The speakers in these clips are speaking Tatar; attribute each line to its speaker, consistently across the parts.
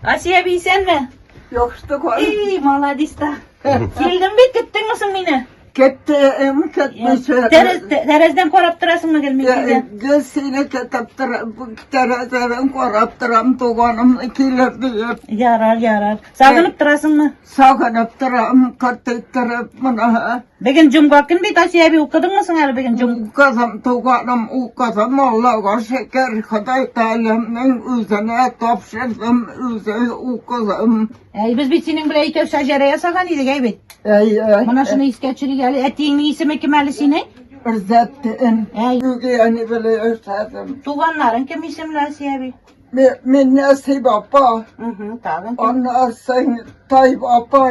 Speaker 1: Асия әби исәнме? Яхшыты кар. Эй, молодец та. Килдем бит, көттеңме соң мине? Кеттем, кеттмесе. Тәрәздән карап торасыңмы гел мин килгән? Гел сине көтеп тор, тәрәздән карап торам, туганым килер диеп. Ярар, ярар. Сагынып торасыңмы? Сагынып торам, кырт иттереп мына. Беген җомга көн бит, Асия әби, укыдыңмы соң әле беген җом... Укыдым, туганым, укыдым, Аллага шөкер, Ходай Тәгаләнең үзенә тапшырдым, үзе укыдым. Әй, без бит синең белән икәү шәҗәрә ясаган идек, әй бит. Әй, әй. Менә шуны искә төшерик әле. Әтиеңнең исеме кем әле синең? Рзәттин. Әй. Үги әни белән яшәдем. Туганнарың кем исемле, Асия әби? Мин Нәсыйб апа. Угу, тагын. Аннан соң Тайб апа,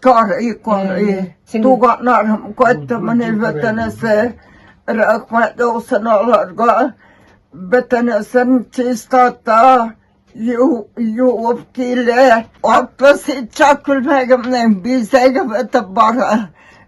Speaker 1: Кар и кар и. Туганнарым кайтты менә бөтенесе. Рәхмәт яусын аларга. Бөтенесен чистата. Юып килә. Атты сетча күлмәгемнең бизәге бетеп бара.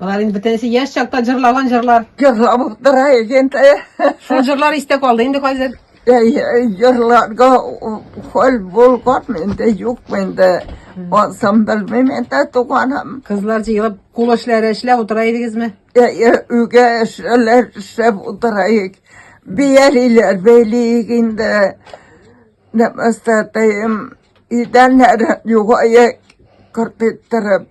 Speaker 1: Болар инде бөтенесе яшь чакта җырлаган җырлар. Җырлап тора икән дә. Шул җырлар истә калды инде хәзер. Җырларга хәл булган инде юк инде. Ансам белмим инде туганым. Кызлар җыелып кул эшләре эшләп утыра идегезме? Өйгә эшләр эшләп утыра ик. Биялиләр бәйлик инде. Нәмәстәтәем. Идәннәр югая кыртып торып.